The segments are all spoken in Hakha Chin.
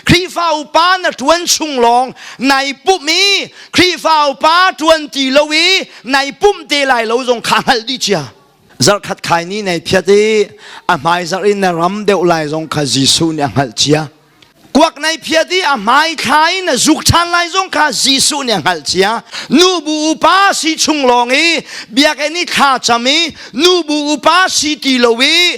Khrihfa upa na ṭuan chung lawng nai pumh i Khrihfa upa ṭuan ti lo i nai pumh te lai lo zong kha hngal dih cia. Zarkhat khai ni nei thiat i a hmai zarh in na ram deuh lai zong kha Jesuh nih a hngalh cia. Kuak nai phiat i a hmai thla in na zuk ṭhan lai zong kha Jesuh nih a hngalh cia. Nu bu upa si chung lawng i biakinn i thla cam i nu bu upa si ti lo i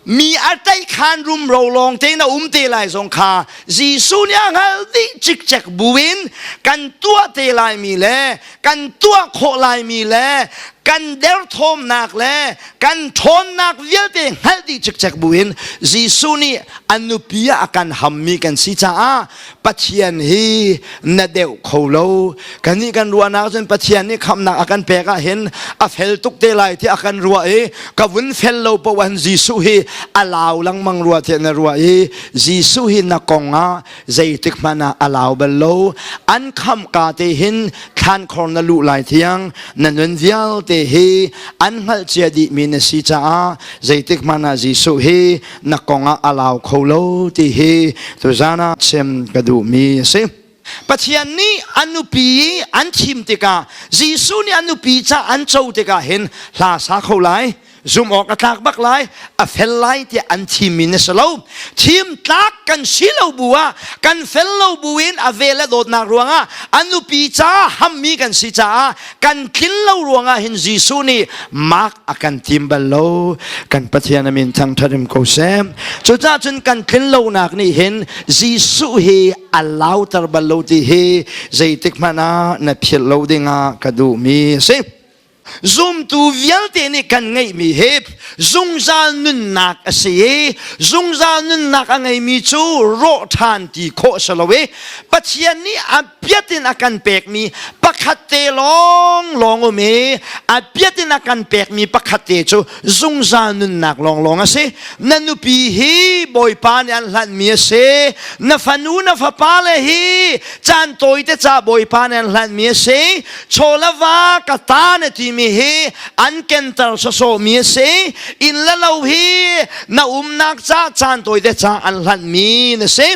mi a tlaihkhan rumro lawng te na um te lai zong kha Jesuh nih a hngal dih cikcek buin kan tuah te lai mi le kan tuah khawh lai mi le kan derthawmnak le kan ṭhawnnak vialte hngalh dih cikcek buin Jesuh nih a nupi ah a kan ham mi kan si caah Pathian hi na deuh kho lo kan nih kan ruahnak cun Pathian nih khamnak a kan pek ah hin a fel tuk te lai ti a kan ruah i ka vun fel lo poan Jesuh hi a lau lengmang rua tiah na ruah i Jesuh hi na kong ah zeitik hmanh ah a lau bal lo an khamka te hin thlan khor na luh lai thiang na nun vialte hi an hngalhcia dihmi na si caah zeitik hmanh ah Jesuh hi na kong ah a lau kho lo ti hi tuzan ah chim ka duhmi a si Pathian nih an nupi an thim tikah Jesuh nih an nupi ca an co tikah hin hla sa kho lai zum awk a tlak bak lai a fel lai tiah an thimmi na si lo thim tlak kan si lo bu ah kan fel lo bu in a vel a dawtnak ruangah a nupi ca hammi kan si caah kan tlin lo ruangah hin Jesuh nih mark a kan thim bal lo kan Pathian a min thangtharim ko sem cucah cun kan tlin lonak nih hin Jesuh hi a lauter bal lo ti hi zeitik hmanh ah na philh lo dingah ka duhmi a si zumtu vialte nih kan ngeihmi hi zungzal nunnak a si i zungzal nunnak a ngeimi cu rawh ṭhan ti khawh a si lo i Pathian nih a biatin a kan pekmi pakhat te lawng lawng um i a biatin a kan pekmi pakhat te cu zungzal nunnak lawng lawng a si na nupi hi bawipa nih an hlanmi a si na fanu na fapa le hi caan tawi te ca bawipa nih an hlanmi a si chawlava ka ta na timi hi an kenter sawsawmi a si in le lo hi na umnak ca caan tawi te ca an hlanmi na si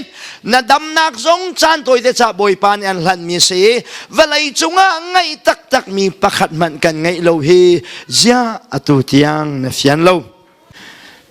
Na damnak zong caan tawi te ca Bawipa nih an hlanmi si vawlei cungah ngeih taktak mi pakhat hmanh kan ngeih lo hi ziah atu tiang na fian lo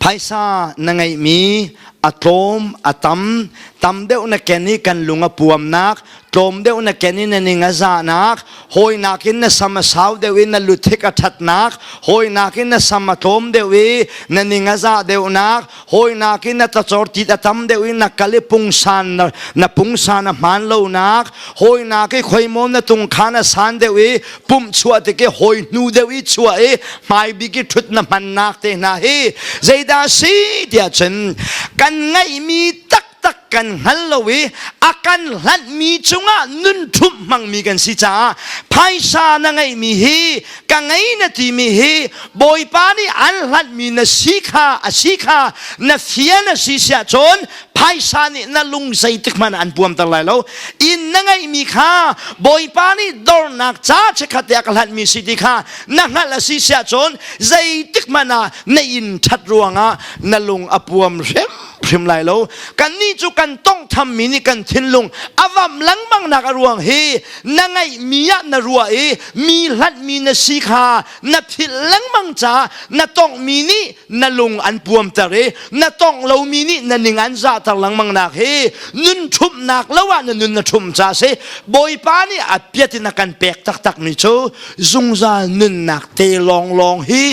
phaisa na ngeihmi a tlawm a tam tam deuh na ken i kan lung a puamnak tlawm deuh na ken in na ning a zahnak hawinak in na sam a sau deuh i na luthik a thatnak hawinak in na sam a tlawm deuh i na ning a zah deuhnak hawinak in na tlachor tit a tam deuh i na kal i pungsan na, na pungsan a hman lonak hawinak i khoimom na tung khan a san deuh i pumh chuah tik i hoi hnu deuh i chuah i hmai bik i thut na hmannak te hna hi zeidah si tiah cun kan ngeihmi tak tak kan hngal lo i a kan hlanhmi cungah nun ṭhumh hmangmi kan si caah phaisa na ngeihmi hi ka ngei na timi hi bawipa nih an hlanhmi na si kha a si kha na fia na si siah cun phaisa nih na lung zeitik hmanh an puamter lai lo inn na ngeihmi kha bawipa nih dornak ca chekhat te a ka hlanhmi si ti kha na hngalh a si siah cun zeitik hmanh ah na in ṭhat ruangah na lung a puam hrim hrim lai lo kannih cu kan tawngtham mi nih kan thinlung a vam lengmang nak a ruang hi na ngaih mi ah na ruah i mi hlat mi na si kha na philh lengmang ca na tongh mi nih na lung an puamter i na tongh lo mi nih na ning an zahter lengmang nak hi nun ṭhumnak lo ah na nun na ṭhum ca si bawipa nih a piat in a kan pek taktak mi cu zungzal nunnak te lawnglawng hi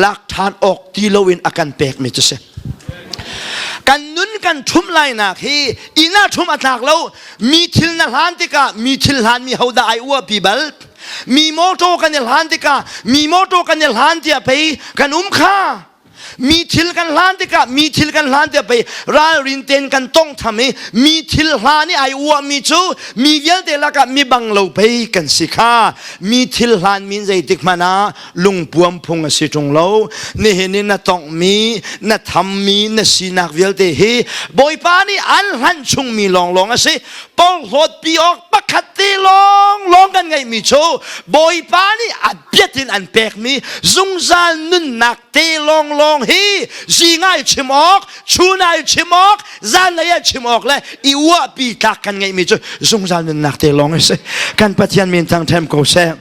lak ṭhan awk ti lo in a kan pek mi cu si kan nun kan ṭhumh lainak hi inn ah ṭhum a tlak lo mi thil na hlan tikah mi thil hlan mi hodah ai uapi bal mi motor kan i hlan tikah mi motor kan i hlan tiah pei kan um kha mi thil kan hlan tikah mi thil kan hlan tiah pei ralrin ten kan tong tham i mi thil hlan i ai uah mi cu mi vialte lakah mi bang lo pei kan si kha mi thil hlan min zeitik hmanh ah lungpuam phung a si ṭung lo nihin i na tongmi na thammi na sinak vialte hi bawipa nih an hlan chungmi lawnglawng a si porhlawtpi awk pakhat te lawnglawng kan ngeihmi cu bawipa nih a biat in an pekmi zungzal nunnak te lawnglawng hi zingai chim awk chunai chim awk zanlei ah chim awk le i uahpi tlak kan ngeihmi cu zungzal nunnak te lawng a si kan pathian min thang ṭhem ko seh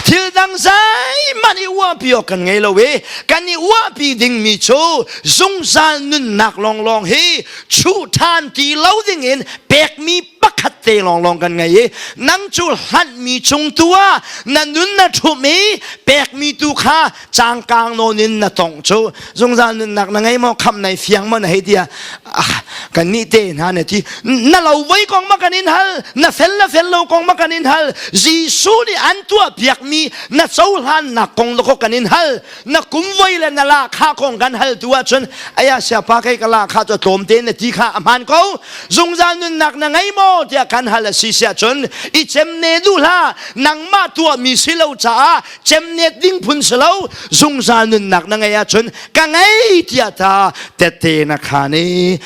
Thil dang zeihmanh i uahpi awk kan ngei lo i kan i uahpi dingmi cu zungzal nunnak lawnglawng hi chuh ṭhan ti lo dingin pekmi pakhat te lawnglawng kan ngei i nang cu hlanhmi chung tu ah na nun na ṭhumh i pekmi tu kha cangkang nawn in na tong cu zungzal nunnak na ngei maw kham nai fiang maw na hei tia ah, kan nih te hna na ti na lo voi kong ma kan in hal na fel la fel lo kong ma kan in hal jesu nih an tua piak mi na cohlan nak kong lo ko kan in hal na kum voi le na la kha kong kan hal tu ahcun aya siapa kai ka la kha to tlom te na ti kha aman ko zungzal nunnak na ngei maw tia kan hal a si sia cun i chem ne du la nangma tua mi si lo caah cemniat ding phun si lo zungzal nunnak na ngei ahcun ka ngei tiah ta tette na khan i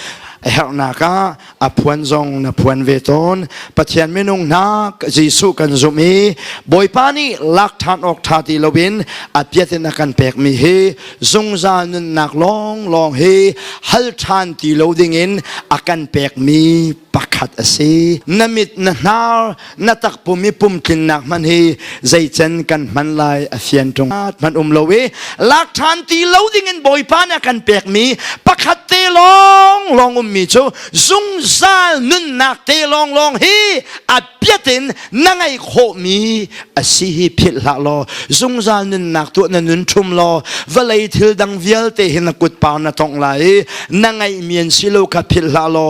herhnak ah a phuan zong na phuan ve tawn pathian minung hna jesuh kan zumh i bawipa nih lak ṭhan awk ṭha ti loin a piat in a kan pekmi hi zungzal nunnak lawnglawng hi hal ṭhan ti lo dingin a kan pekmi pakhat a si na mit na hnar na takpum i pumtlinnak hman hi zeican kan hman lai a fian ṭung hman um lo i lak ṭhan ti lo dingin bawipa nih a kan pekmi pakhat te lawng lawng ummi cu zungzal nunnak te lawng lawng hi a biatin na ngeih khawhmi a si hi philh hlah law zungzal nunnak tuah na nun ṭhum law vawlei thil dang vialte hi na kutpar na tongh lai i na ngeihmi an si lo kha philh hlah law